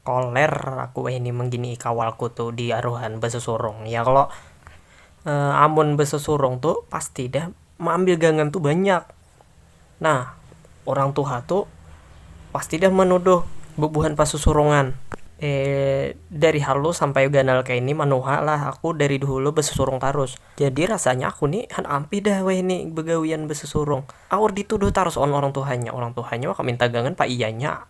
Koler aku wahini mangginii kawalku tu di aruhan basusurung ya kalo, amun basusurung tu pasti dah maambil gangan tu banyak nah urang tuha tu pasti dah manuduh bubuhan pasusurungan dari halus sampai ganal kaya ini manuha lah aku dari dahulu basusurung tarus jadi rasanya aku ni handak ampih dah wahini bagawian basusurung aur dituduh tarus wan urang tuhanya, urang tuhanya waka minta gangan pa iyanya.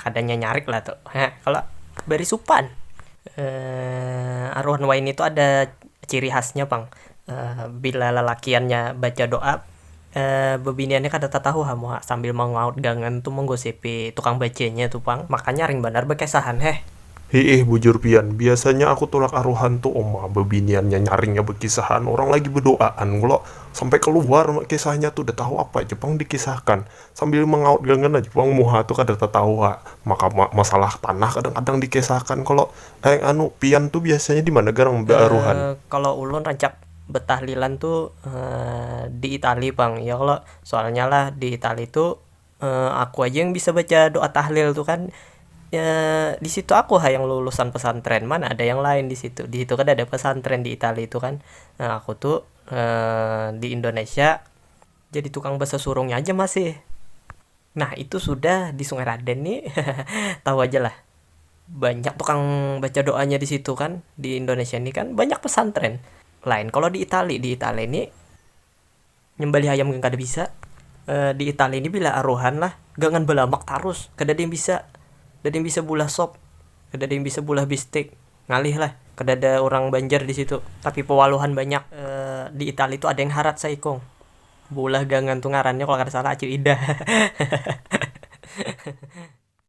Kada nyanyarik lah tu ha kalo bari supan aruhan wayni tu ada ciri khasnya pang bila lalakiannya baca doa bebiniannya kada tatahu ha muha sambil mangaut gangan tu manggosipi tukang bacanya tu pang maka nyaring banar bakesahan heh. Hiih bujur pian, biasanya aku tulak aruhan tu uma bebiniannya nyaringnya bakisahan orang lagi bedoaan kalo sampai kaluar kisahnya tu datahu apa ja pang dikisahkan Sambil mangaut gangan aja pulang muha tu kada tatahu ha maka masalah tanah kadang kadang dikesahakan kalo eh anu pian tu biasanya dimana garang bearuhan. Kalo ulun rancak betahlilan tu di itali pang ya kalo soalnya lah di itali tu aku aja yang bisa baca doa tahlil tu kan disitu aku ha yang lulusan pesantren mana ada yang lain disitu disitu kada ada pesantren di itali tu kan nah aku tu di indonesia. Jadi tukang basasurungnya aja masih. Nah itu sudah di sungai raden ni tahu aja lah banyak tukang baca doanya di situ kan di indonesia ni kan banyak pesantren lain kalo di itali di itali ni nyembelih ayam gin kada bisa di itali ni bila aruhan lah gangan balamak tarus kadada yang bisa kadada yang bisa bulah sop kadada yang bisa bulah bistik. Ngalih lah, kadada urang Banjar di situ. Tapi pewaluhan banyak. Di Itali tu ada yang harat saikung. Beulah gangan tu ngarannya kalau kada salah Acil Ida.